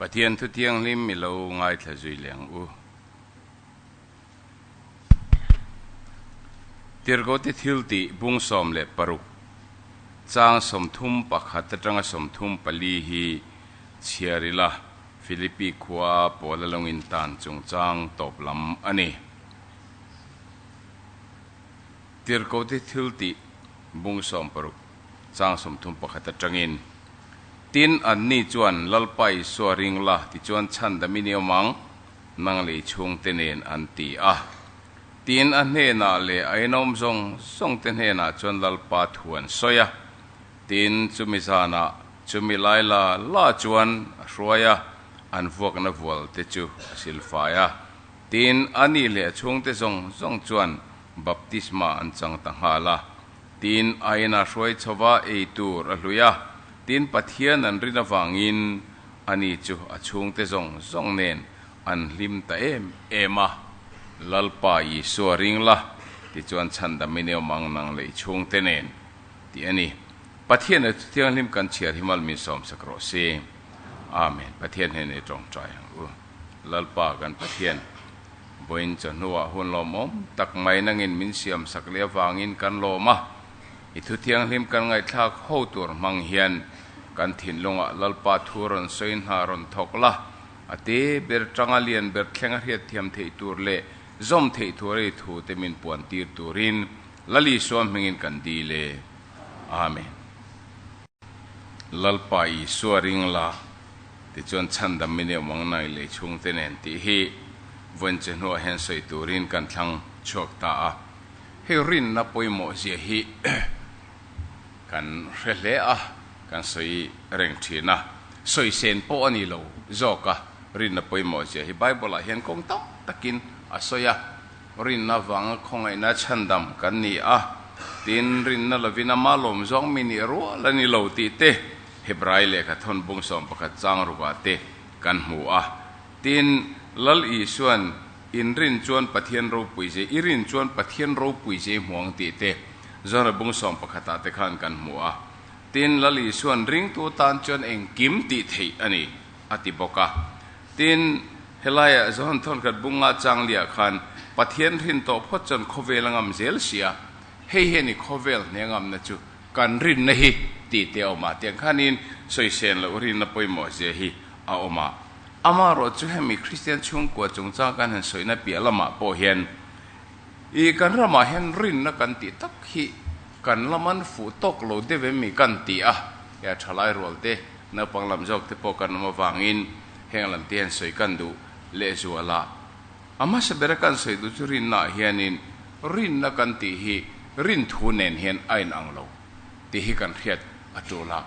Pathian thu thianghlim i lo ngaithla zui leng u. Tirgote thil tih bung sawm leh paruk chang sawmthum pakhat atanga sawmthum pali hi chhiar ila Philippi khua a Paula lawngin tan chungchang tawp lam a ni. Tirgote thil tih bung sawm paruk. chang sawmthum pakhat atangin. Tin, anni chuan Lalpa Isua a ring la tichuan chhan dam i ni awm ang, nang leh i chhungte nen an ti a. Tin, a hnenah leh a inawm zawng zawngte hnenah chuan Lalpa thu an sawi a. Tin, chumi zanah chumi lai la la chuan a hruai a, an vuakna vualte chu a silfai a. Tin, ani leh a chhungte zawng zawng chuan baptisma an chang ta nghal a. Tin, a in a hruai chho va ei tur a hlui a, tin Pathian an rin avangin a ni chu a chhungte zawng zawng nen an hlim ta em em a. Lalpa Isua ring la, tichuan chhan dam i neum ang nang leh i chhungte nen, tih a ni. Pathiana chu thianghlim kan chhiar hi mal min sawmsak rawh si. Amen. Pathian hnena i tawngtai ang u. Lalpa kan Pathian, vawiin chawhnuah hun lawm awm tak mai nangin min siamsak leh avangin kan lawm a, i Thu Thianghlim kan ngaihthlak ho tur hmang hian kan thinlungah Lalpa thu rawn sawi hna rawn thawk la, a te ber tanga lian ber thleng a hriat thiam theih tur leh zawm theih tur a ni thu te min puan tir turin Lal Isua hmingin kan dil e. Amen. Lalpa Isua ring la, tichuan chhandam min eum ang nai lei chhungte nen tih hi vawiinche hnuah hian sawi turin kan thlang chhuak ta a. Hei rinna pawimawhzia hi kan hre hle a, kan sawi reng thin a, sawi sen pawh a ni lo zawk a. Rinna pawimawhzia hi Bible-ah hian kawng tam takin a sawi a. Rinna vanga khawngaihna chhandam kan ni a, tin rinna lovin amah lawm zawng mi nih rual a ni lo tih te Hebrai lehkha thawn bung sawm pakhat chang rukah te kan hmu a. Tin, Lal Isua'n in rin chuan Pathian ropui zei, i rin chuan Pathian ropui zei hmuang tih te Johana bung sawm pakhatah te khan kan hmu a. Tin, Lal Isua'n ringtu tan chuan engkim tih theih a ni? a ti bawk a. Tin, helaiah zawn thawnkhat bunga Changlia khan Pathian hrin tawh phawt chuan khawvel a ngam zel si a, hei hian i khawvel hne ngamna chu kan rinna hi tihte awm a, tiang khanin sawisen loh rinna pawimawhzia hi a awm a. Amah rawh chu hemi Kristian chhungkua chungchang kan han sawina piah lamah pawh hian i kan ramah hian rinna kan tih tak hi, Kan lam an fuh tawk lo deuh em mi kan ti a, hea thalai rual te, naupang lam zawk te pawh kan awm avangin heng lam te hian sawi kan duh lehzual a. A hmasa bera kan sawi duh chu rinna ah hianin rinna kan tih hi rin thu nen hian a in ang lo tih hi kan hriat a tul a,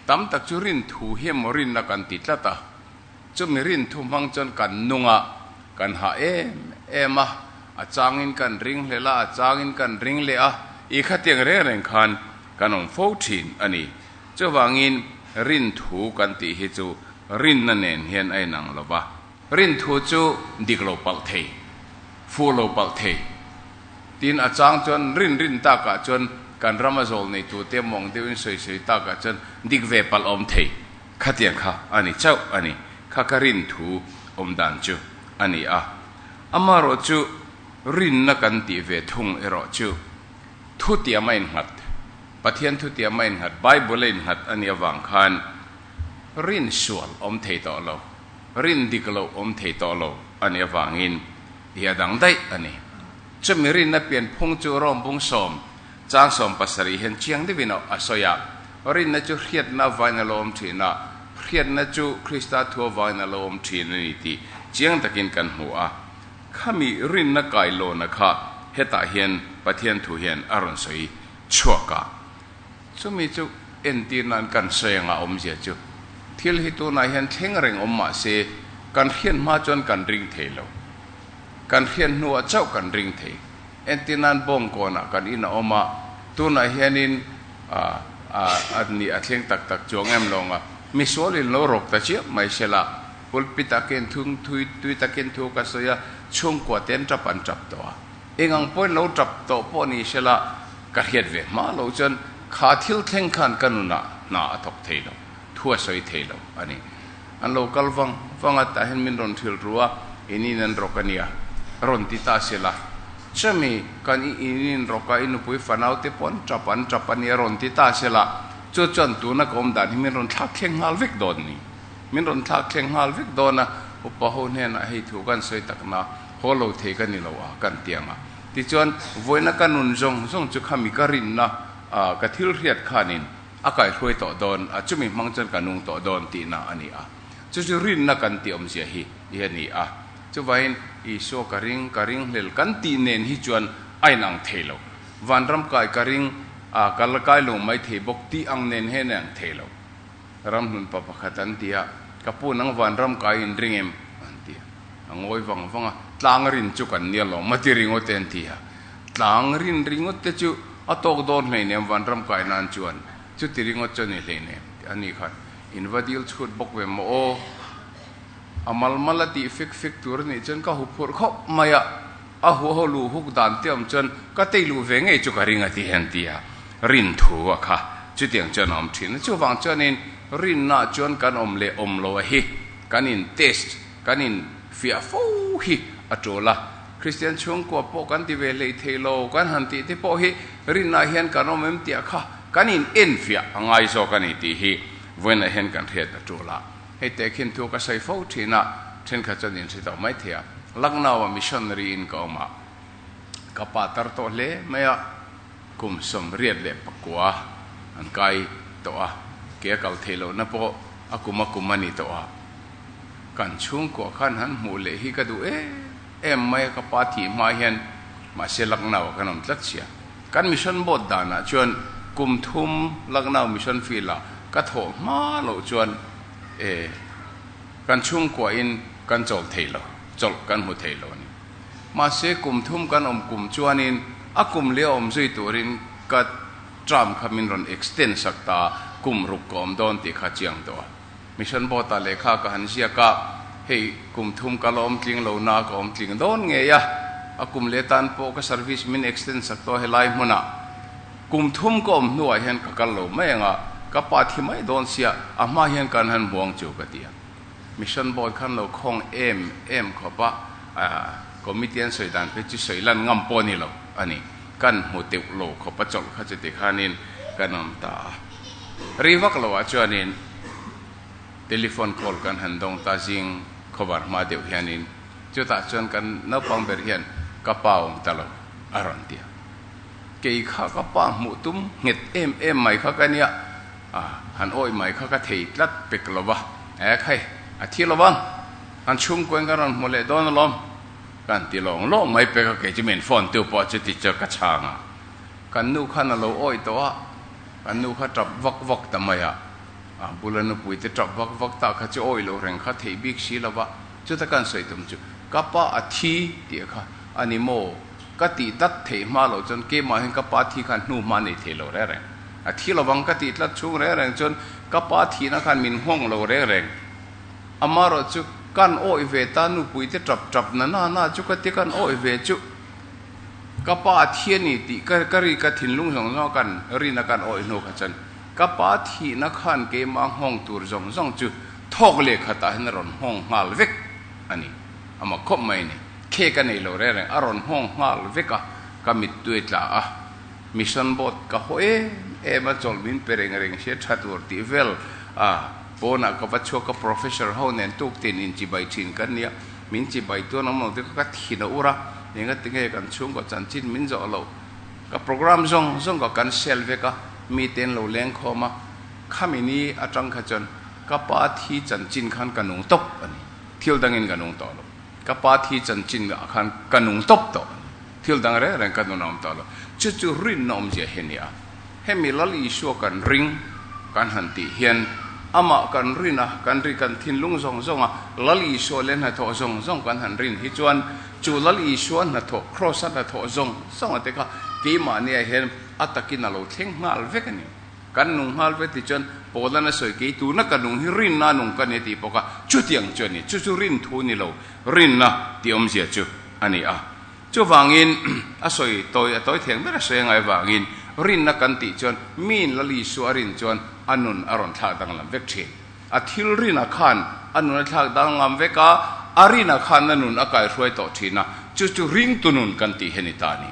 tam tak chu rin thu hi emaw rinna kan ti tlat a. Chumi rin thu hmang chuan kan nunga kan hah em em a, a changin kan ring hlel a, a changin kan ring leh a, i khatiang reng reng khan kan awm fo thin a ni. Chuvangin rin thu kan tih hi chu rinna nen hian a inang lo va, rin thu chu dik lo palh thei, fuh lo palh thei. Tin a chang chuan rin rin takah chuan kan rama zawl nei tute mawng deuhin sawi sawi takah chuan dik ve palh awm thei. Khatiang kha a ni chauh a ni. Kha ka rin thu awm dan chu a ni a. Amarawh chu rinna kan tih ve thung erawh chu, thu tiam a innghat, Pathian thu tiam a innghat, Bible a innghat a nih avang khan rin sual awm thei tawh lo, rin dik lo awm thei tawh lo a nih avangin i a dang daih a ni. Chumi rinna pianphung chu rawng bung sawm Chang sawm pasarih hian chiang deuhin a sawi a, Rinna chu hriatna avangin a lawm thin a, hriatna chu Krista thu avangin a lawm thin a ni tih chiang takin kan hmu a. Khami rinna kailawna kha hetah hian Pathian thu hian a rawn sawi chhuak a. Chumi chu entirnain kan sawi ang a awmzia chu. Thil hi tunah hian thleng reng awm mah se, kan hriat hma chuan kan ring thei lo. Kan hriat hnuah chauh kan ring thei. Engtin nan bawng kawnah kan in a awm a, tunah hianin an nih a thleng tak tak chuang em lawng a, misual in lo rawk ta chiah mai se la, pulpit ah khian thung thui tui takin thu ka sawi a, chhungkua te an tap an tap tawh a, engang pawhin lo tap tawh pawh ni se la, ka hriat ve hma lo chuan kha thil thleng khan ka nunah hna a thawk thei lo, thu a sawi thei lo a ni. An lo kal vang vang a, tah hian min rawn thil ru a, in in an rawk a nia, rawn ti ta se la. Chemi, kan i in in rawk a, i nupui fanau te pawh an tap an tap a nia, rawn ti ta se la. Chu chuan tuna ka awm dan hi min rawn thlak thleng nghal vek dawn a ni. Min rawn thlak thleng nghal vek dawn a, upa ho hnenah hei thu kan sawi tak na, haw lo thei ka ni lo a, kan ti ang a. Tichuan, vawiina ka nun zawng zawng chu khami ka rinna, ka thil hriat khanin, A kaihruai tawh dawn, a chumi hmang chuan ka nung tawh dawn tihna a ni a. Chu chu rinna kan ti awmzia hi i a ni a. Chuvaiin, Isua ka ring, ka ring hlel kan tih nen hi chuan a inang thei lo. Vanram kai ka ring, a ka la kai lo mai thei bawk tih ang nen hian a inang thei lo. Ramhlun pa pakhat an ti a, Ka pu nang vanram kai in ring em? an ti a. A ngawi vang vang a, Tlang rin chu kan nia lawm, mati ringawt e an ti a. Tlang rin ringawt te chu a tawk dawn hleinem vanram kai nan chuan chuti ringawt chu a ni hleinem tih a ni khan in va dil chhut bawk ve maw aw. A malmal a tih fek fek tur a nih chuan ka hu phurh khawp mai a, a hu ho luh huk dan teuh awm chuan ka tei luh ve ngei chu ka ring a ti hian ti a rin thu a kha chutiang chuan a awm thin a chuvang chuan in rin na chuan kan awm leh awm lo a hi kan in test kan in fiah fo hi a tul a. Kristian chhungkua pawh kan ti ve hlei thei lo, kan han tih te pawh hi rinah hian kan awm em tih kha kan in enfiah a ngai zawk a ni tih hi vawiinah hian kan hriat ta ṭul a. Hei te khin thu ka sawi fo ṭhin a, ṭhenkhat chuan in hre tawh mai thei a, Lucknow-a missionary in ka awmah ka pa tar tawh hle mai a, kum sawmriat leh pakua an kai tawh a, ke a kal thei lohna pawh a kum a kum a ni tawh a. Kan chhungkua khan han hmuh leh hi ka duh em em mai a, ka pa tih hma hian mahse Lucknow ah kan awm tlat sia. Kan mission bawt danah chuan kum thum Lucknow mission field ah ka thawh hma loh chuan e kan chhungkuahin kan chawlh thei lo, chawlh kan hmu thei lo a ni. Mahse kum thum kan awm kum chuanin a kum leh a awm zui turin ka term kha min rawn extend sak ta a, kum ruk ka awm dawn tih kha a chiang tawh a. Mission board-ah lehkha ka han ziak a, hei kum thum ka la awmtling lohna a ka awmtling dawn ngei a, a kum leh tan pawh ka service min extend chak tawh a helai hmunah kum thum ka awm hnuah hian ka kal lo mai ang a, ka pa thi mai dawn sia a hma hian kan han buang chu ka ti a, mission board khan lo khawng em em khawp a, committee an sawi dan phei chu sawi lan ngam pawh a ni lo a ni, kan hmu deuh lo khawp a chawlh kha chutikhânin kan awm ta a. Rei vak lo ah chuanin telephone call kan han dawng ta zing khawvar hma deuh hianin chutah chuan kan naupang ber hian ka pa awm ta lo a rawn ti a. Kei kha ka pa hmuh tum nghet em em mai kha ka nia a han awih mai kha ka thei tlat pek lo va, eh khai a thi lo vang han chhungkuain ka rawn hmu leh dawn alawm kan ti lawng lawng mai pek a kei chu min phone tu pawh chu tichuan ka chhang a kan nu khan a lo awih tawh a Kan nu kha tap vak vak ta mai a, a bula nupui te tap vak vak ta kha chu awi lo reng kha theih bik si lo va, chuta kan sawi tum chu ka pa a thi tih kha a ni maw ka tih tlat theih hma lo chuan keimahin ka pa thi khan hnu hma nei thei lo reng reng, a thi lovang ka tih tlat chhung reng reng chuan ka pa thihna khan min nghawng lo reng reng, ama rawh chu kan awih ve ta nupui te tap tap nana na chu ka ti kan awih ve chuh. Ka Pa thi a ni tih ka ka ri ka thinlung zawng zawng a kan rin a kan awih hnu kha chuan ka Pa thihna khan keimah nghawng tur zawng zawng chu thawk leh khatah hian a rawn nghawng nghal vek a ni. A mak khawp mai a ni. Khe ka nei lo reng reng a rawn nghawng nghal vek a, ka mittui tla a. Mission boat ka haw em em a chawlh min pe reng reng sia tha tur tih vel a pawnah ka va chhuak a, Professor ho nen tuk ten inchibai thin kan nia. Min chi bai tuan awm lo te kha ka thin a ur a, enga tinge kan chhungkaw chanchin min zawh lo. Ka programme zawng zawng kha kan sell vek a, mite an lo leng khawm a. Khami ni atang kha chuan ka pa thi chanchin khan ka nung tawp a ni. Thil dangin ka nung tawh lo. Ka pa thi chanchin ah khan ka nung tawp tawh a ni. Thil dang reng reng ka nun a awm ta lo. Chu chu rin na awmzia hi a ni a, hemi Lal Isua kan ring kan han tih hian Amah kan rin a, kan ri kan thinlung zawng zawng a, Lal Isua leh hnathawh zawng zawng kan han rin hi chuan chu Lal Isua hnathawh Kraws-a hnathawh zawng zawng a te kha keimahniah hian a takin a lo thleng nghal vek a ni. Kan nung nghal vek tih chuan Paulana sawi kei tuna ka nung hi rinna nung ka ni tih bawk a, chutiang chuan ni chu chu rin thu ni lo. rinna tih awmzia chu a ni a. Chuvangin, a sawi tawi a tawi theng ber a sawi angai avangin, rinna kan tih chuan min lal Isua a rin chuan a nun a rawn thlak danglam vek thin. A thilrina khan a nun a thlak danglam vek a, a rinah khan a nun a kaihruai tawh thin a, chu chu ringtu nun kan tih hi a ni ta a ni.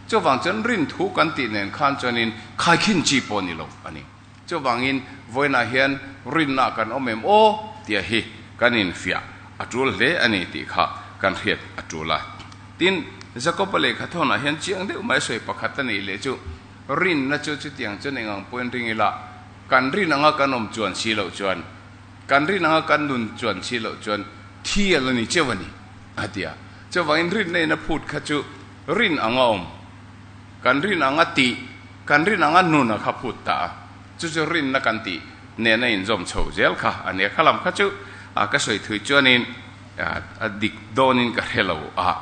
Chuvang chuan rin thu kan tih nen khan chuanin khaikhin chi pawh ni lo a ni. Chuvangin vawiinah hian rinna kan awm em aw tia hi kan infiah a tul hle a ni tih kha kan hriat a tul a. Tin, Jakopa lehkha thawnah hian chiang deuh mai sawi pakhat a nih leh chu, rinna chu chutiang chuan eng ang pawhin ring ila, kan rin anga kan awm chuan si loh chuan, kan rin anga kan nun chuan si loh chuan thial a ni cheuh a ni, a ti a. Chuvangin rinna ina phut kha chu rin anga awm. Kan rin ang a tih, kan rin ang a nun a kha phut ta a, chu chu rinna kan tih nena inzawm chho zel kha a nia, khalam kha chu a ka sawi thui chuanin a dik dawnin ka hre lo a,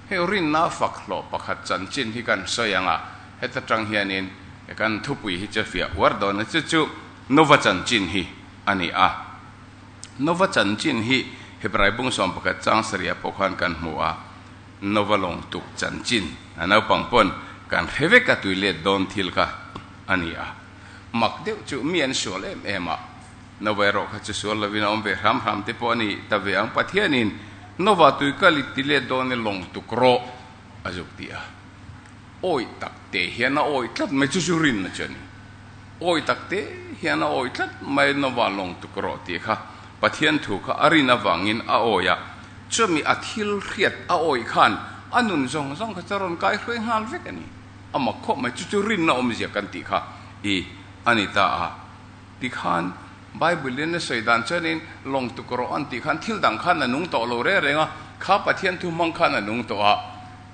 hei rinna a fak hlawh pakhat chanchin hi kan sawi ang a, heta tang hianin kan thupui hi chu fiah uar dawn a, chu chu Nova chanchin hi a ni a, Nova chanchin hi Hebraibung sawmpakhat chang sarih a pawh khan kan hmu a, Novalawng tuk chanchin a naupang pawn kan hre vek a tui let dawn thil kha a ni a, mak deuh chu mi an sual em em a, Nova erawh kha chu sual lovin a awm ve hram hram te pawh a ni ta ve ang, Pathianin Nova tui kal i ti let dawn i lawng tuk rawh a zuk tih a, awih tak te hian a awih tlat mai chu chu rinna chu a ni. awi tak te hian a awi tlat mai lova lawng tuk rawh tih kha Pathian thu kha a rin avangin a awi a, chumi a thil hriat a awi khan a nun zawng zawng kha chu a rawn kai hruai nghal vek a ni. A mak khawp mai, chu chu rinna awmzia kan tih kha i a ni ta a. Tikhan Bible in a sawi dan chuan in lawng tuk rawh an tih khan thil dang khan a nung tawh lo reng reng a, kha Pathian thu hmang khan a nung tawh a.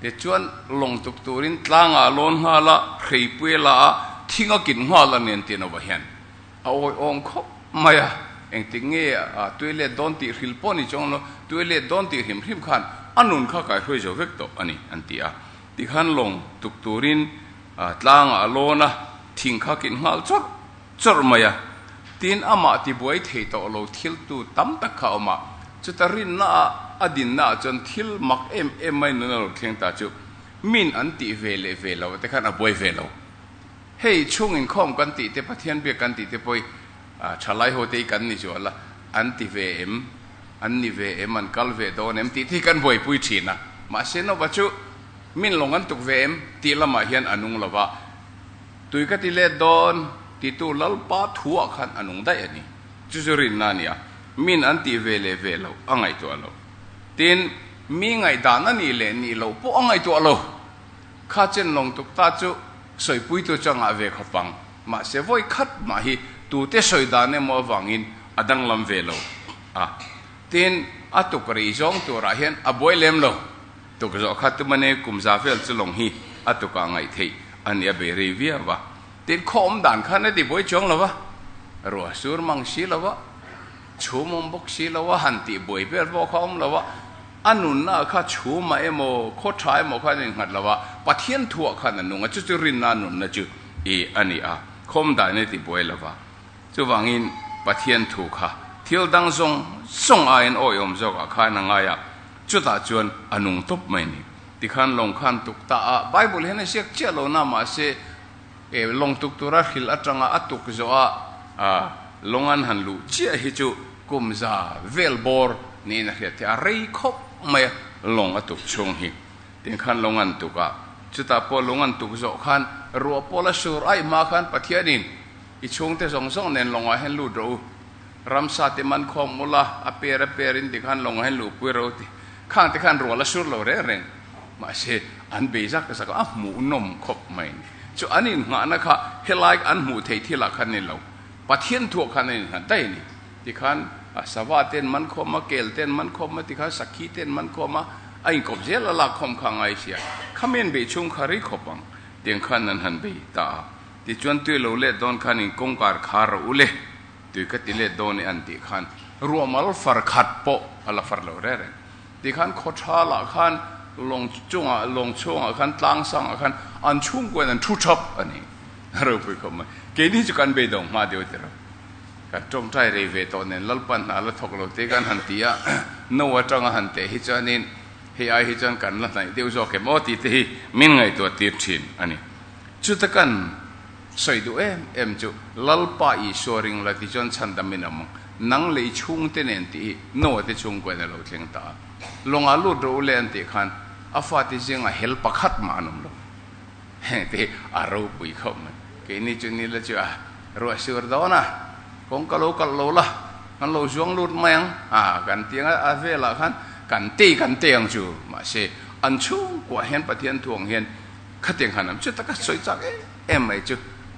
Te chuan lawng tuk turin tlangah lawn nghal a, hreipuia la a, thing a kit nghal a nen tih nova hian a awi awng khawp mai a, engtik nge a toilet dawn tih hril pawh ni chuang lo, toilet dawn tih hrim hrim khan a nun kha kai hruai zo vek tawh a ni, an ti a. Tikhan lawng tuk turin tlangah lawn a, thing kha kit nghal chawrh. chawrh mai a, tin amah tibuai thei tawh lo thiltu tam tak kha a awm a, chuta rinna ah a dinna ah chuan thil mak em em mai nun a rawn thleng ta chu min an tih ve leh ve lo te khan a buai ve lo. Hei chhung inkhawm kan tih te Pathian biak kan tih te pawh hi tha lai ho te hi kan ni zual a, an ti ve em, an ni ve em, an kal ve dawn em tih te hi kan buaipui thin a, mahse nova chu min lawng an tuk ve em tih lamah hian a nung lo va, Tui ka ti let dawn, titu Lalpa thuah khan a nung daih a ni. Chu chu rinna a ni a, miin an tih ve leh ve loh a ngaihtuah lo. Tin, mi ngaihdan a nih leh nih loh pawh a ngaihtuah lo. Kha chen lawng tuk ta chu sawipuitu changah ve kha pang, mahse vawi khat mah hi tute sawi dan emaw avangin a danglam ve lo a. Tin, a tukri zawng turah hian a buai lem lo. Tukzawh kha tumani kum za vel chu lawng hi a tukah ngaih theih a nia bei rei viau a. Tin, khawawm dan khan a ti buai chuang lo va, ruah sur mang si lo va, chhum awm bawk si lo va, han tih buai vel pawh kha a awm lo va, a nunna kha chhumah emaw, khawtha emaw khan a innghat lo va, Pathian thuah khan a nung a, chu chu rinna nunna chu i a ni a, khawm dan a ti buai lo va. Chuvangin Pathian thu kha thil dang zawng zawng aiin awiawm zawkah khan a ngai a, chutah chuan a nung tawp mai ni. Tikhan lawng khan tuk ta a, Bible hian a ziak chiah lo na mahse e, lawng tuk tura hril atanga a tuk zawh a, a lawng an han luh chiah hi chu kumza vel bawr niin a hriat theih a, rei khawp mai a lawng a tuk chhung hi. Tikhan lawng an tuk a, chutah pawh lawng an tuk zawh khan ruah pawla sur aih hma khan Pathianin, I chhungte zawng zawng nen lawngah hian lut rawh u. Ramsa te man khawm mul a, a per a per in ti khan lawngah hian luh pui rawh u ti. Khangte khan rual a sur lo reng reng. Mahse, an beizak ta zaka a hmuh nawm khawp mai a ni. Chu an innghahna kha helai an hmuh theih thilah khan ni lo, Pathian thuah khan an innghat daih a ni. Ti khan a sava ten man khawm a, kel ten man khawm a, ti khan sakhi ten man khawm a, a inkawp zel a lak khawm kha a ngai sia. Khamen bei chhung kha rei khawp ang. Tiang khan an han bei ta a. Tichuan tui lo let dawn khan in kawngkar kha rawh u le, tui ka ti let dawn e an tih khan ruahmal far khat pawh a la far lo reng reng. Tih khan khawthral ah khan lawng chung ah, lawng chhung ah khan tlang sang ah khan an chhung kuain an thu thap a ni. A ropui khawp mai. Keini chu kan bei dawng hma deuh tilo. Kan tawngtai rei ve tawh nen Lalpa hna la thawk lo te kan han ti a, no atanga han teh hi chuan in hei ai hi chuan kan la hnaih deuh zawk em aw tih te hi min ngaihtuah tir thin a ni. Chuta kan sawi duh em em chu Lalpa Isua ring la tichuan chhan dam in awm nang lei chhungte nen tih hi Noah te chhung kualin a lo thleng ta a. Lawngah lut rawh u le an tih khan a fate zingah hel pakhat mah an awm lo. Hengte hi a ropui khawp mai. Keini chu ni la chu a ruahsur dawn a, kawng ka lo kalh lo la, kan lo zuang lut mai ang a kan ti ang. A velah khan kan tei kan tei ang chu, mahse an chhungkuah hian Pathian thuawng hian Khatiang khan an chutak a, sawi chak em em mai chu.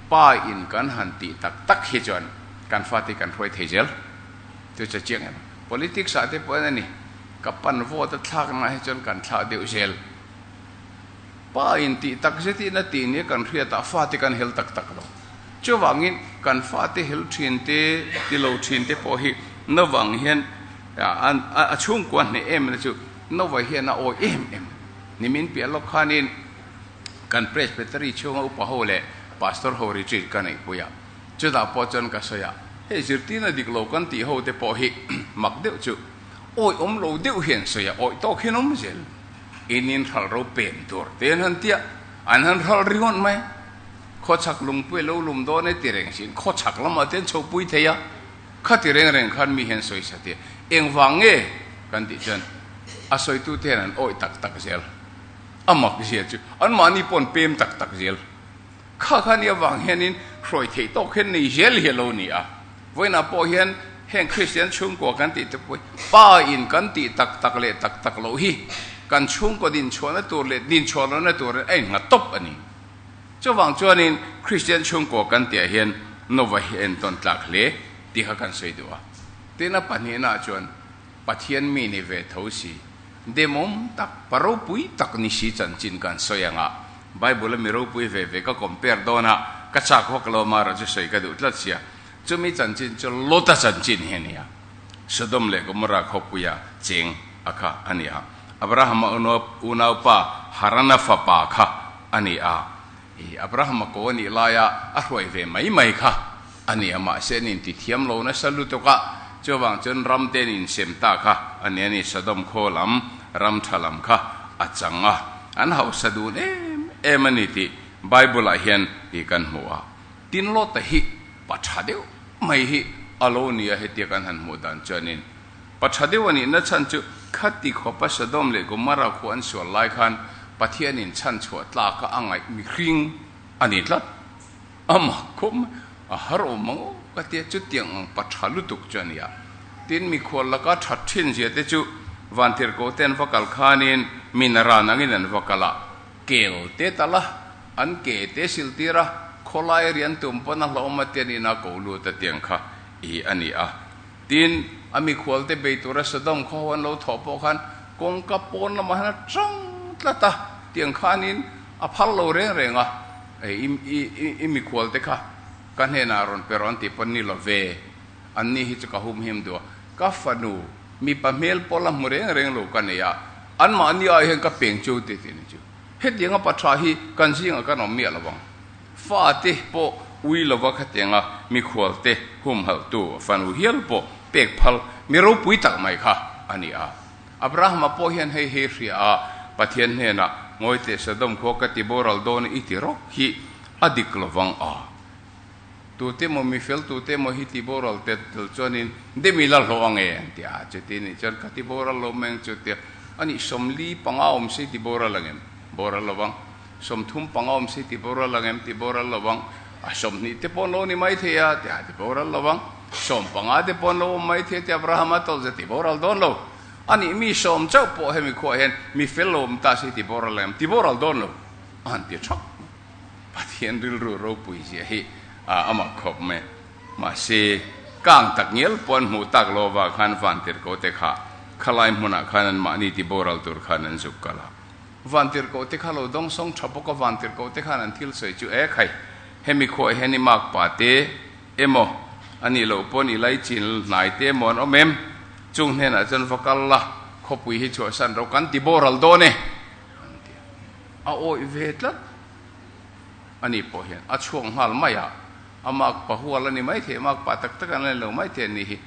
Pa in kan han tih tak tak hi chuan kan fate hi kan hruai thei zel. Chu che chiang em. Politics ah te pawhin a ni. Ka pan vote a thlak na hi chuan kan thlah deuh zel. Pa in tih tak zet hi na tih nia kan hriat ah fate kan hel tak tak lo. Chuvangin kan fate hel thin te, ti lo thin te pawh hi na vang hian a chhungkua hneh em na chu na va hian a awi em em. Nimin piah lawk khanin kan Presbytery chhunga upa ho leh Pastor ho retreat ka neihpui a, chutah pawh chuan ka sawi a, hei zirtir na dik lo kan tih ho te pawh hi mak deuh chu awih awm lo deuh hi an sawi a, awih tawk hian awm zel, in in hral ro pem tur te an han ti a, an han hral ri ngawt mai, khawchhak lungpui a lo lum dawn e tireng sin khawchhak lamah te an chhoh pui thei a. Khati reng reng khan mi hian sawi sa teh, engvang nge? kan tih chuan a sawitu te hian an awih tak tak zel. A mak zia chu anmahni pawh an pem tak tak zel. Kha khan i avang hianin hruai theih tawk khen nei zel hi a lo ni a. Vawiinah pawh hian heng Kristian chhungkaw kan tih te pawhin Pa in kan tih tak tak leh tak tak loh hi kan chhungkaw dinchhuahna tur leh dinchhuah lohna turin a in nghat tawp a ni. Chuvang chuanin Kristian chhungkaw kan tihah hian Nova hi a entawn tlak hle tih kha kan sawi duh a. Tin a pahnihnah chuan Pathian mi ni ve tho si, demawm tak, pa ropui tak ni si chanchin kan sawi ang a. Bible-a mi ropui ve ve ka compare dawn a, ka chak vak lawma erawh chu sawi ka duh tlat sia. Chumi chanchin chu Lot-a chanchin hi a ni a. Sodom leh Gomorrah khawpuia cheng a kha a ni a. Abrahama unaupa Harana fapa kha a ni a. Abrahama kaw a nih laia a hruai ve mai mai kha a ni a, mahse an intithiam lo nasa lutuk a. Chuvang chuan ram ten insem ta kha a ni a ni. Sodom khaw lam ram tha lam kha a chang a, an hausa dun em em a ni tih Bible-ah hian kan hmu a. Tin Lota hi pa tha deuh mai hi a lo ni a, hetia kan han hmuh dan chuanin pa tha deuh a nihna chhan chu khati khawpa Sodom leh Gomorrah khua an sual lai khan Pathianin chhanchhuah tlak a a ngaih mihring a ni tlat. Amah khawp mai, a har awm mang o ka tia, chutiang ang pa tha lutuk chu a ni a. Tin mikhual laka tha ṭhinzia te chu Vantirhkohte an va kal khanin mina ran angin an va kal a, kel te ta la. An ke te siltir a, khawlai rian tum pawn a hlawm a tian ina ko lut a tiang kha i a ni a. Tin, a mikhual te bei tura Sodom khaw ho an lo thawh pawh khan kawngka pawn lamah hian a ṭang tlat a tiang khanin a phar lo reng reng a, i mikhual te kha ka hnenah rawn pe rawn ti pawn ni lo ve, anni hi chu ka humhim duh a, ka fanu mipa hmel pawh la hmu reng reng lo ka nei a, anmahni ah hian ka peng chu tih tih ni chu. Hetianga pa tha hi kan zingah kan awm miah lovang. Fa te pawh ui lova kha teng a, mikhual te, humhalhtu, fanu hial pawh pek phal, mi ropui tak mai kha a ni a. Abrahama pawh hian hei hi hria a, Pathian hnenah, Ngawi teh Sodom khua ka tibo ral dawn i ti rawh hi a dik lovang a. Tute maw, mifel tute maw hi tiboral tet tel chuanin, Dem ila hlawh ange? an ti a. Chuti nih chuan, Ka tiboral lo meng chu, a ti a. Ani, Sawmli panga awm si tiboral angem? Boral lovang. Sawmthum panga awm si tiboral angem? Tiboral lovang. A, sawmhnih te pawh an lo ni maithei a, a ti a. Tiboral lovang. Sawm panga te pawh an lo awm maithei a, a ti a. Abraham a tawlh zia? Tiboral dawn lo. Ani, mi sawm chauh pawh hemi khuaah hian mifel lo awm ta si tiboral angem? Tiboral dawn lo, a han ti thap. Pathian rilru ropui zia hi a mak khawp mai. Mahse, kang tak ngial pawh an hmuh tak lova khan vantirhkohte kha khalai hmunah khan anmahni tiboral tur khan an zuk kal a. Vantirhkohte kha lo dawngsawng tha bawk a, vantirhkohte khan an thil sawi chu e khai, hemi khuaah hian i mak pa te emaw, a nih loh pawn i lai chin hnai te emaw an awm em? Chung hnenah chuan va kal la, khawpui hi chhuahsan ro kan tiboral dawn e! an ti a. A awih ve tlat a nih pawh hian a chhuak nghal mai a, a makpa hual a ni mai thei, makpa tak tak an len lo mai thei a nih hi.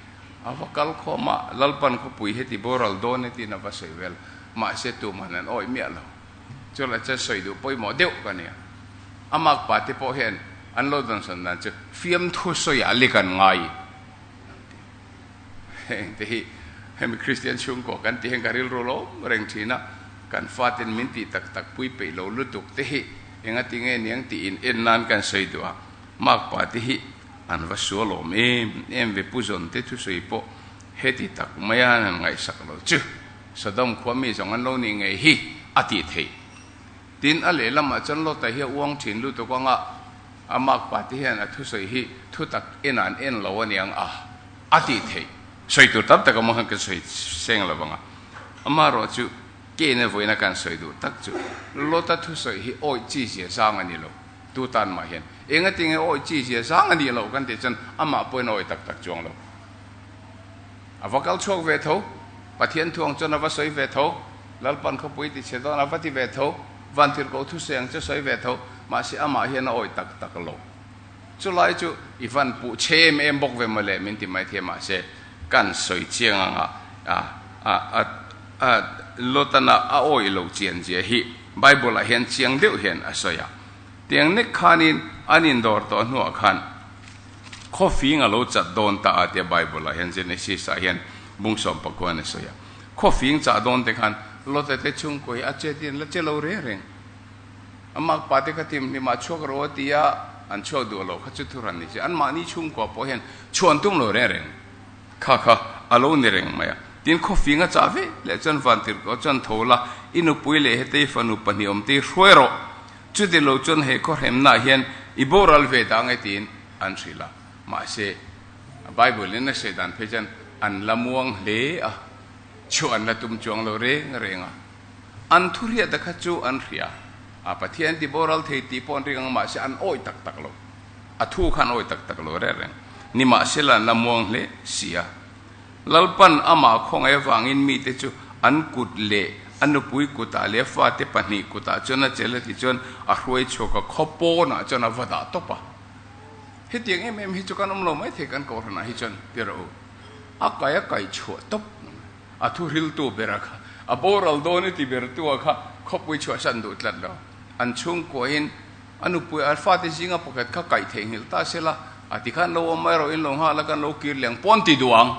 A va kal khawm a, Lalpan khawpui hi tibo ral dawn e tiin a va sawi vel. Mahse tuman an awih miah lo. Chulai chuan sawi duh pawimawh deuh ka nia. A makpa te pawh hian an lo dawnsan dan chu fiamthu sawiah lik an ngai ang tih. heng te hi hemi Kristian chhungkaw kan tih hian ka rilru lo reng thin a, kan faten min tih tak tak pui peih lo lutuk te hi enga ti nge niang tiin en nan kan sawi duh a, Mark pa te hi an va sualawm em em ve pu zawn te thusawi pawh heti tak mai a han ngaihsak lo chu, Sodom khua mi zawng an lo nih ngei hi a tih theih. Tin a lehlamah chuan Lot-a hi a uang thin lutuk anga. A makpa te hian a thusawi hi thutak en an en lo aniang a, a tih theih. Sawi tur tam taka mawnghan kan sawi seng lo vang a, amaherawh chu Cain-a vawiina kan sawi duh tak chu Lot-a thusawi hi awih chi zia zang a ni lo. Tu tan mah hian engatinge awih chi zia zang a nih loh kan tih chuan amah pawhin a awih tak tak chuang lo. A va kal chhuak ve tho, Pathian thu ang chuan a va sawi ve tho, Lalpan khawpui ti chhe dawn a va ti ve tho, Vantirhko thusei ang chu sawi ve tho, mahse amah hian a awih tak tak lo. Chulai chu i van puh che em em bawk ve mawle min ti mai thei mahse kan sawi chiang ang a, a Lotana a awih lo chian zia hi Bible-ah hian chiang deuh hian a sawi a. Tiang nek khanin an indawr tawh hnuah khan, Khaw fing a lo chat dawn ta a tia Bible ah hian Genesis ah hian bung sawmpakuaa an i sawi a. Khaw fing chah dawn te khan Lota te chhungkaw hi a che dian la che lo reng reng. A mak pa te kha tim hlim ah chhuak rawh a ti a, an chhuak duh lo kha chu thu hran ni che. An mahni chhungkua pawh hian chhuan tum lo reng reng. Kha kha a lo ni reng mai a. Tin khaw fing a chah veleh chuan Vantirhkoh chuan tho la, i nupui leh hetei fanu pahnih awm te hi hruai rawh. Chutilo chuan he khawhremnaah hian i boral ve ta nge tiin an hrilh a. Mahse, Bible in a hriat dan phei chuan an la muang hle a, chu an la tum chuang lo reng reng a. An thuhriat te kha chu an hria a, Pathian an tiboral thei tih pawh an ring ang mahse an awih tak tak lo, a thu kha an awih tak tak lo reng reng. Nimahsela an la muang hle sia. Lalpan ama khawngai avangin mite chu an kut leh a nupui kutah leh a fate pahnih kutah chuan a chel a tih chuan a hruai chhuak a, khaw pawnah chuan a va dah tawp a. Hetiang em em hi chu kan awm lo mai thei kan kohhranah hi chuan ti rawh u. A kai a kai chhuah tawp mai. A thuhriltu bera kha, a boral dawn i ti bertu a kha khawpui chhuahsan duh tlat lo. An chhungkuahin. A nupui Alfate zinga pakhat kha kaih theih nghelh ta sela, a ti khan lo awm mai rawh in lo nghal a kan lo kir liang pawn ti duh ang.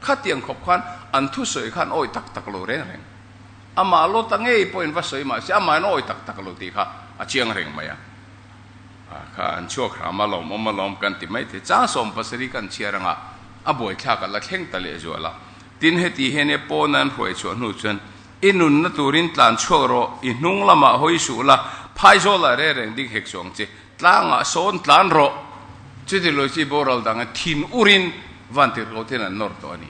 Khatiang khawp khan an thusawi khan awih tak tak lo reng reng. Amah lot a ngei pawhin va sawi mahse amah in awih tak tak lo tih kha a chiang reng mai a. A kha an chhuak hram alawm awm alawm kan ti maithei chang sawm pasarih kan chhiar anga a buaithlak a la thleng ta leh zual a. Tin heti hian e pawna an hruaichhuah hnu chuan I nunna turin tlan chhuak rawh, i hnung lamah hawi suh la, phaizawlah reh reng dik hek chuang che. Tlangah sawn tlan rawh. Chuti lawi chu i boral dangin thin urin Vantirhkotin an nawr tawh a ni.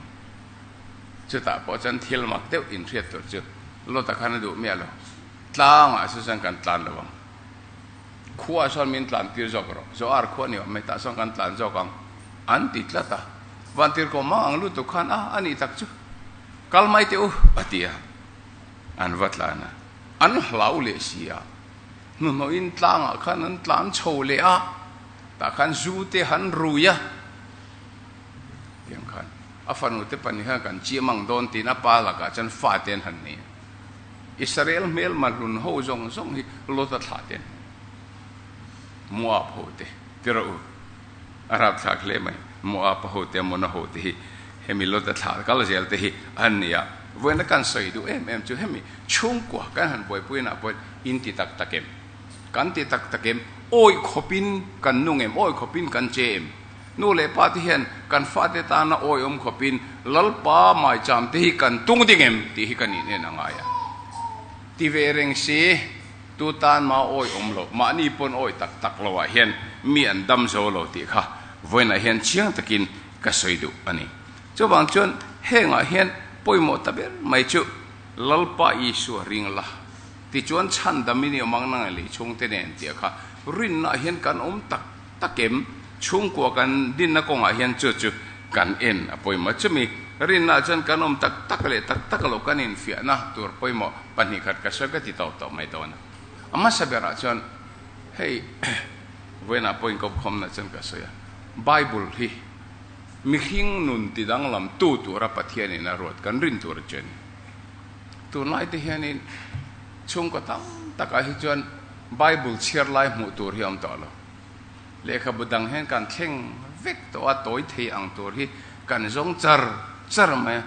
Chutah pawh chuan thil mak deuh inhriat tur chu Lota khan a duh miah lo. Tlangah chu chuan kan tlan lo ang. Khuaa sawn min tlantir zawk rawh. Zoar khuaa ni awm mai tah sawn kan tlan zawk ang, an ti tlat a. Vantirhko mang ang lutuk khan a a nih tak chu. Kal mai teh u, a ti a. An va tlan a. An hlau leh si a. Hnuhnawhin tlangah khan an tlan chho leh a. Tah khan zu te han rui a. Tiang khan a fanu te pahnih khan kan chiah mang dawn tiin a pa lakah chuan fa te an han nei a. Israel hmelma hlun ho zawng zawng hi Lota thlah te an hman a. Moab ho te, ti rawh u. a rap thlak hle mai. Moapa hote Ammona hote hi hemi Lota thlar kal zel te hi an ni a, vawiina kan sawi duh em em chu hemi chhungkua kan han buaipuiinah pawhin inti tak tak em? Kan ti tak tak em? Awih khawpin kan nung em? Awih khawpin kan che em? Nu leh pa te hian kan fate tana awihawm khawpin Lalpa maicham te hi kan tung ding em? Tih hi ka nih nena ngai a. Ti ve reng si, tu tan ma awi awm lo, mahni pawn awi tak tak lo ah hian mi an dam zo lo tih kha vawiinah hian chiang takin ka sawi duh a ni. Chuvang chuan heng ah hian pawimawh ta ber mai chu Lalpa Isua ring la, tichuan chhandam i ni awm ang na ngai lei chhungte nen tih a kha rinna ah hian kan awm tak. Takem, chhungkua kan dinna kawngah hian chu chu kan en a pawimawh chumi. Rinnaah chuan kan awm tak tak leh tak tak lo kan infiahna tur pawimawh pahnih khat ka hre ka ti tawp tawp mai dawn a. A hmasa berah chuan hei vawiinah pawh inkawmkhawmna chuan ka sawi a, Bible hi mihring nun ti danglam tu tura Pathianin a ruat kan rin tur a che a ni. Tunlaite hianin chhungkaw tam takah hi chuan Bible chhiar lai hmuh tur hi a awm tawh lo. Lehkhabu dang hian kan thleng vek tawh a, tawi thei ang tur hi kan zawng char char mai a.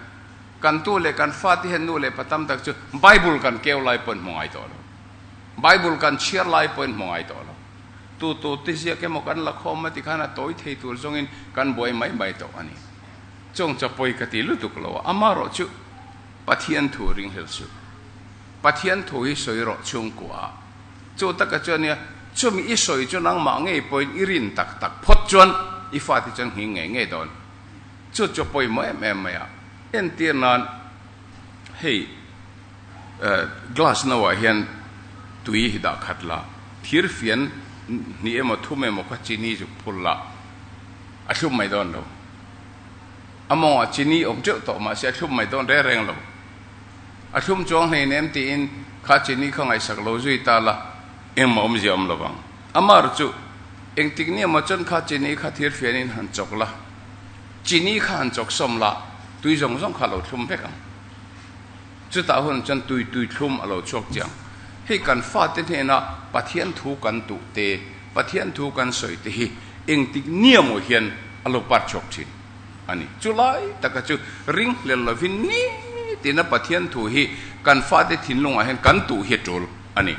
Kan tu leh kan fate hian nu leh pa tam tak chu Bible kan keu lai pawhin hmu ngai tawh lo. Bible kan chhiar lai pawhin hmu ngai tawh lo. Tu tute ziak emaw kan la khawm a ti khan a tawi thei tur zawngin kan buai mai mai tawh a ni. Chawngchaw pawi ka ti lutuk lo a, amaherawhchu Pathian thu ringhlel suh. Pathian thu hi sawi rawh chhungkua ah. Chu taka chuan nia, chumi i sawi chu nangmah ngei pawhin i rin tak tak phawt chuan i fate chuan nghing ngei ngei dawn. Chu chu pawimawh em em mai a. Entir nan hei glass no ah hian tui hi dah khat la, thir fian hnih emaw thum emaw kha chini zuk phur la, a thlum mai dawn lo. A mawngah chini awm teuh tawh mahse a thlum mai dawn reng reng lo. A thlum chuang hleinem tiin kha chini kha ngaihsak lo zui ta la, engmah awmzia a awm lo vang. Amah ru chu, engtik ni emaw chuan kha chini kha thir fianin han chawk la, chini kha han chawk sawm la, tui zawng zawng kha a lo thlum vek ang. Chutah hun chuan tui tui thlum a lo chhuak chiang. Hei kan fate hnena Pathian thu kan duh te, Pathian thu kan sawi te hi engtik ni emaw hian a lo par chhuak thin. a ni. Chu lai taka chu ring hlel lovin nitina Pathian thu hi kan fate thinlungah hian kan tuh hi a tul a ni.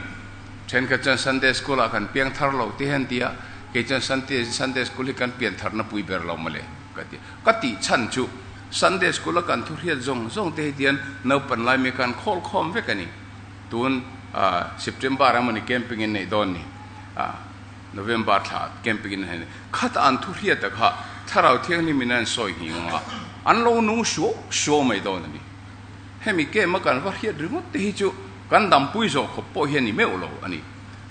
Thenkhat chuan Sunday School-ah kan piang thar lo teh hi an ti a, kei chuan Sunday School hi kan pian tharna pui ber lo mawle ka ti a. Ka tih chhan chu Sunday School-a kan thu hriat zawng zawng te hi tian naupan lai mi kan khawl khawm vek a ni. Tun September emaw ni camping in neih dawn ni. November thla camping in hne khata an thu hriat tak ha thlarau thianghlim in an sawi nghih nghah a, an lo nung hriau hriau mai dawn a ni. Hemi camp a kan va hriat ringawt te hi chu kan dampui zawh khawp pawh hian ni meuh lo a ni.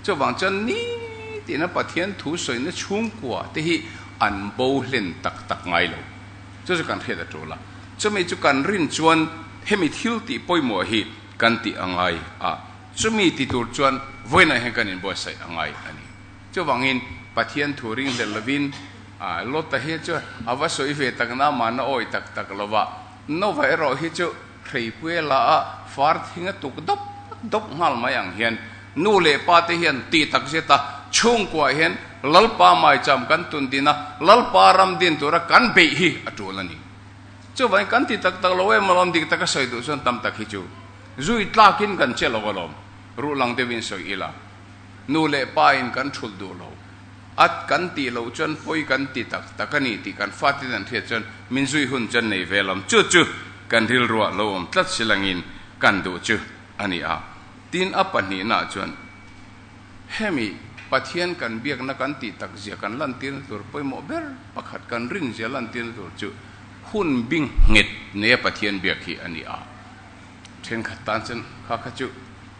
Chuvang chuan nitihna Pathian thu sawina chhungkua te hi an bo hlen tak tak ngai lo. Chu chu kan hriat a tul a, chumi chu kan rin chuan hemi thil tih pawimawh hi kan tih a ngai a. Chumi ti tur chuan vawiinah hian kan inbuatsaih a ngai a ni. Chuvangin Pathian thu ringhlel lovin Lota hi chu a va sawi ve tak na mahna awi tak tak lova, Noah erawh hi chu hreipuia laha far thinga tuk dawp dawp nghal mai ang hian nu leh pa te hian tih tak zet a, chhungkuah hian Lalpa maicham kan tun din a, Lalpa ram din tura kan beih hi a tul a ni. Chuvangin kan ti tak tak lo em lo, dik taka sawi duh chuan tam tak hi chu. Zui tlak in kan che lo alawm, ruh lang deuh in sawi ila, nu leh pa in kan thulh duh lo, at kan tih loh chuan pawi kan ti tak tak a ni tih kan fatin an hriat chuan min zui hun chuan nei ve lam chu chu kan rilruah lo awm tlat si lang in kan duh chu a ni a tin a pahnih na chuan hemi Pathian kan biak na kan tih tak zia kan lantir tur pawimawh ber pakhat kan rin zia lantir tur chu hun bing nghet neia Pathian biak hi a ni a. Thenkhat tan chuan kha kha chu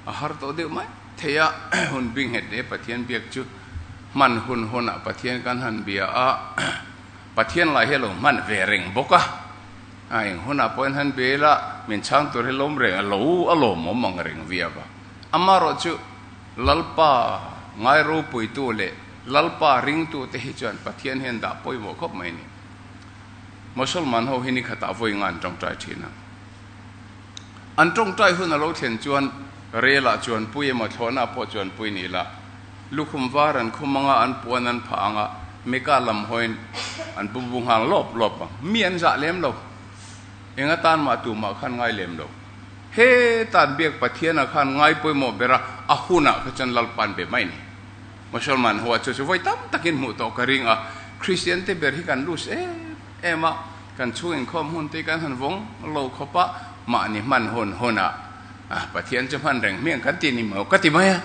a har tawh deuh mai thei a, hun bik nghet e Pathian biak chu hman hun hawn ah Pathian kan han bia a, Pathian lai hi a lo hman ve reng bawk a, a eng hun ah pawhin han bia ila min chhang tur hi lawm reng a lo a lawm awm ang reng viau a, amah rawh chu Lalpa ngai ropui tu leh Lalpa ring tu te hi chuan Pathian hian dah pawimawh khawp mai a ni. Mosalman ho hi nikhat ah vawi ngan tawngtai thin a. An tawngtai hun a lo thlen chuan relah chuan pui emaw thlawhnaah pawh chuan pui ni la. Lukhum var an khum anga an puan an phah anga Mika lam hawiin an bu bu nghal lawp lawp ang. Mi an zah lem lo. Enga tan mah tumah khan ngai lem lo. Heta biak Pathiana khan ngai pawimawh bera a hunah kha chuan lalpan ve mai ni. Mosalman ho a chu chu vawi tam takin hmuh tawh ka ring a. Kristiante ber hi kan lose em em a. Kan chhung inkhawm hun te kan han vawng lo khawp a, mahni hman hun hunah Pathian chu hman reng hmiang kan ti ni maw? Ka ti mai a,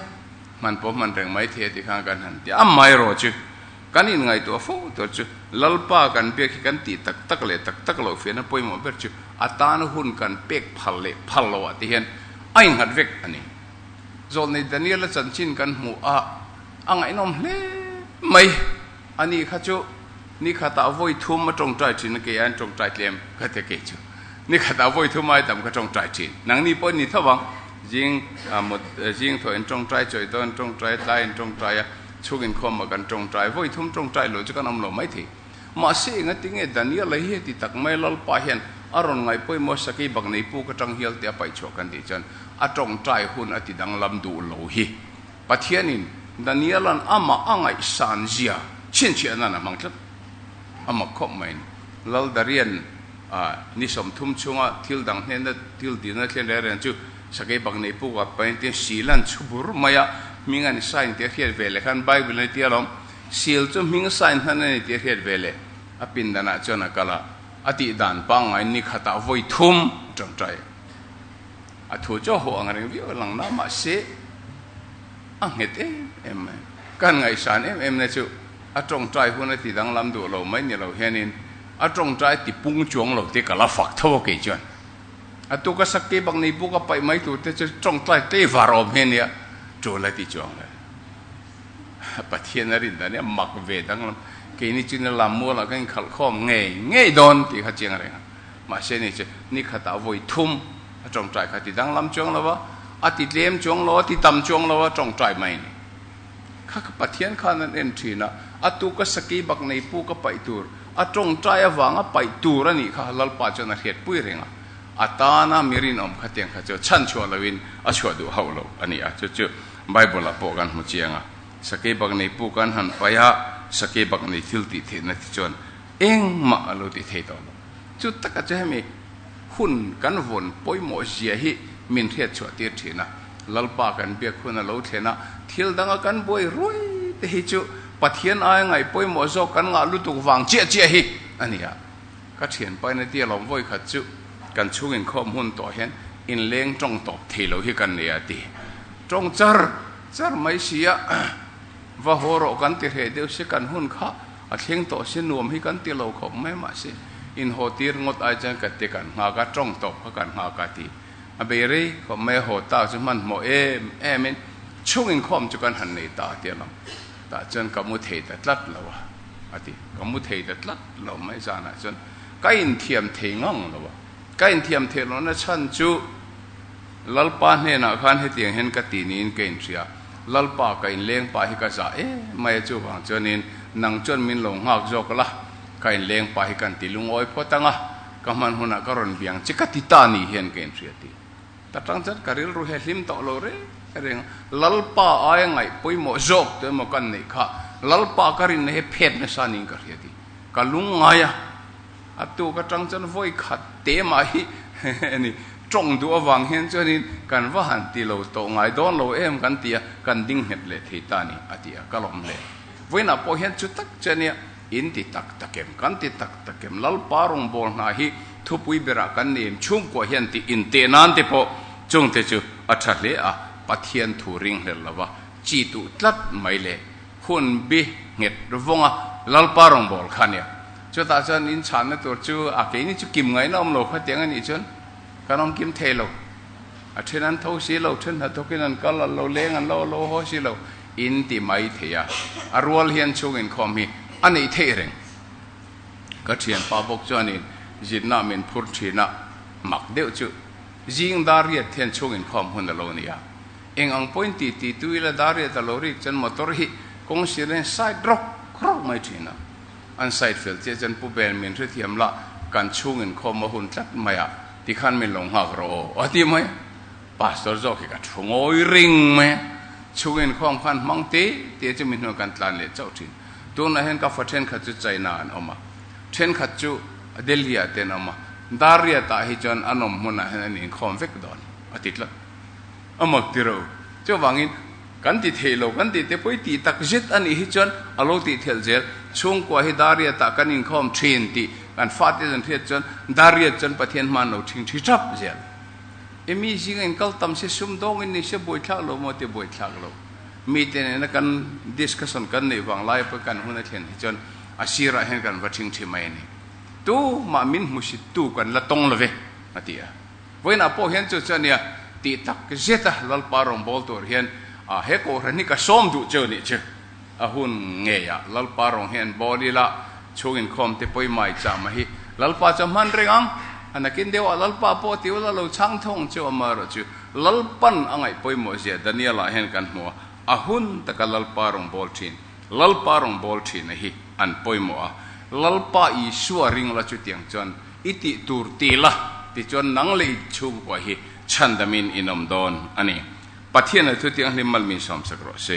hman pawh hman reng mai thei a ti khan kan han ti a mai rawh chu. Kan inngaihtuah fo tur chu Lalpa kan biak hi kan tih tak tak leh tak tak lo fiahna pawimawh ber chu atan hun kan pek phal leh phal lo ah te hian a inghat vek a ni. Zawlnei Daniela chanchin kan hmuh a, a ngaihnawm hle mai. A nih kha chu ni khat ah vawi thum a tawngtai thin a, kei hian tawngtai tlem ka ti a kei chu ni khat ah vawi thum ai tam ka tawngtai thin, nang ni pawh a ni tho vang, zing zing thawh in tawngtai chawi dawn, tawngtai tlai in tawngtai a, chhuk in khawm a kan tawngtai, vawi thum tawngtai loh chu kan awm lo mai thei. Mahse enga ti nge Daniel a hi heti tak mai a, Lalpa hian a rawn ngai pawimawh sakei bak nei puk atang hial te a paih chhuah kan tih chuan a tawngtai hun a ti danglam duh lo hi Pathianin Daniela'n amah a ngaihsan zia chhinchhiahna'n a hmang tlat. Amah khawp maiin, Laldarian a ni sawm thum chunga thil dang hnena thil dinna thlen leh a rian chu sakei bak nei puk a, pain tin sila'n chhu bur mai a, hming a ni sain tih a hriat ve leh khan Bible-ah a ni tih a lawm. Sil chu hming sain hman a ni tih a hriat ve leh a pindanah chuan a kal a, a tih dan pangngai nikhatah vawi thum tangtai. A thu chu a haw ang reng viau a lang na mahse a nghet em em mai. Kan ngaihsan em em na chu a tawngtai hun a ti danglam duh lo mai ni lo hianin a tawngtai a ti pung chuang lo te ka la fak tho a kei chuan. A tuk a sak ke bak nei bawk a paih mai tur te chu tawngtai tlei var awm hian nia tul a ti chuang lo. Pathian a rin dan i a mak ve danglam. Keini chu nia lam mual ah ka inkhalh khawm ngei ngei dawn tih kha chiang reng ang. Mahse ni chu ni khatah a vawi thum a tawngtai kha ti danglam chuang lo a, a ti tlem chuang lo a, a ti tam chuang lo a, tawngtai mai a ni. Kha ka Pathian khan an en thin a, a tu ka sakei bak nei pu ka paih tur, a tawngtai avanga paih tur a nih kha Lalpa chuan a hriat pui reng a, a tana mi rinawm kha tiang kha chu chhan chhuah loin a chhuah duh hauh lo a ni a, chu chu Bible ah pawh kan hmu chiang a, sakei bak nei pu kan han paih a, sakei bak nei thil tih theihna te chuan engmah a lo tih thei tawh lo. Chu takah chuan hemi hun kan vawn pawimawhzia hi min hriatchhuah tir thin a, Lalpa kan biak hun a lo thlen a, thil danga kan buai ruai te hi chu Pathian aia ngaihpawimawh zawk kan ngah lutuk vang chiah chiah hi a ni a. Ka thian paina tia lawm vawi khat chu kan chhung inkhawm hun tawh hian inleng tawng tawp thei lo hi kan nei a ti. Tawng char char mai sia, va haw rawh kan ti hreh deuh se kan hun kha. A thleng tawh se nuam hi kan ti lo khawp mai mah se inhaw tir ngawt ai chuan ka ti kan nghak a, tawng tawp kha kan nghak a ti a bei rei khawp mai a haw tak chu hmanhmawh em em in chhung inkhawm chu kan han nei ta a ti a lang tah chuan ka mu thei ta tlat lo a a ti ka mu thei ta tlat lo mai zan ah chuan ka inthiam thei ngang lo a ka inthiam thei loh na chhan chu Lalpa hnenah khan hetiang hian ka ti niin ka inhria. Lalpa ka inleng pa hi ka za emai a chuvang chuanin nang chuan min lo nghak zawk la, ka inleng pa hi kan ti lungawi phawt ang a, ka hman hunah ka rawn biang che ka ti ta ni hian ka inhria ti ta tang chuan ka rilru hi a hlim tawh lo reng reng a, Lalpa aia ngaih pawimawh zawk tu emaw kan neih kha Lalpa ka rinna hi a phet nasa niin ka hria ti ka lung ngai a. A tuk atang chuan vawi khat te mah hi a ni. Tawng duh avang hian chuanin kan va han ti lo tawh ngai dawn lo em kan ti a, kan ding nghet leh thei ta ni, a ti a. Ka lawm hle. Vawiinah pawh hian chu tak che nia, in ti tak tak em, kan ti tak tak em, Lalpa rawngbâwl hna hi thupui berah kan nem chhungkua hian tih in teh nân te pawh chungte chu a ṭha hle a, Pathian thu ring hlel lova chi duh tlat mai le, Hun bi nghet vawng a, Lalpa rawngbâwl kha a nia. Chutah chuan in chhâkna tur chu a keini chu kim ngaihna awm lo kha tiang a nih chuan kan awm kim thei lo. A ṭhen an tho si lo, ṭhen hna thawkin an kal an lo leng an lo lo haw si lo in ti mai thei a. A rual hian chhûng inkhawm hi a neih theih reng. Ka ṭhianpa bawk chuanin zitna min phur ṭhînah mak deuh chu zingdâr riat hian chhûng inkhawm hun a lo ni a. Eng ang pawhin ti ti tu ila dar ria ta lo rik chuan motor hi kawng sir in side rawk rawk mai thin a. An side fel chiah chuan Pu Bel min hrethiam lah kan chhung in khawm a hun tlat mai a tikhan min lo nghak rawh aw a ti mai a. Pastor zawk hi ka thu ngawi ring mai a, chhung in khawm khan hmang te te chu min hnuah kan tlan leh chauh thin. Tunah hian ka fa thenkhat chu China ah an awm a, thenkhat chu Delhi ah te an awm a, dar ria tah hi chuan an awm hmunah hian an inkhawm vek dawn a ti tlat. a mak tiro. Chu avangin kan ti theih lo, kan ti te pawh i ti tak zet a nih hi chuan a lo tih thelh zel. Chhungkua hi Dariat-ah kan inkhawm thin tih kan fate zan hriat chuan Dariat chuan Pathian hma'n lo thing thi thap zel. I mi zinga in kal tam se, sum dawngin ni se, buaithlak lo maw tih buaithlak lo. Mite nena kan discussion kan neih vang lai pawh kan hun a thlen hi chuan a sirah hian kan va thing thi mai a ni. Tumah min hmusit tu kan la tawng love, a ti a. Vawiinah pawh hian chu chuan nia, tih tak zeta Lalpa rawngbâwl tur hian a he kawhhran hi ka sawm duh che u nih chu a hun ngei a. Lalpa rawn hian bâwl ila chhûng inkhâwm te pawi mai chah mai hi Lalpa chu a hman reng ang. A nakin deuhah Lalpa pawh ti ula lo chhâng thawng che u a mah erawh chu Lalpan a ngaih pawimawh zia Daniela-ah hian kan hmu a. A hun taka Lalpa rawngbâwl ṭhin, Lalpa rawngbâwl ṭhina hi an pawimawh a. Lalpa Isua ringla chutiang chuan I tih tur ti la, tichuan nang leh ip chhung pawh hi chhan damin in awm dawn a ni. Pathiana thu tiang hlim mal min sawmsak rawh se.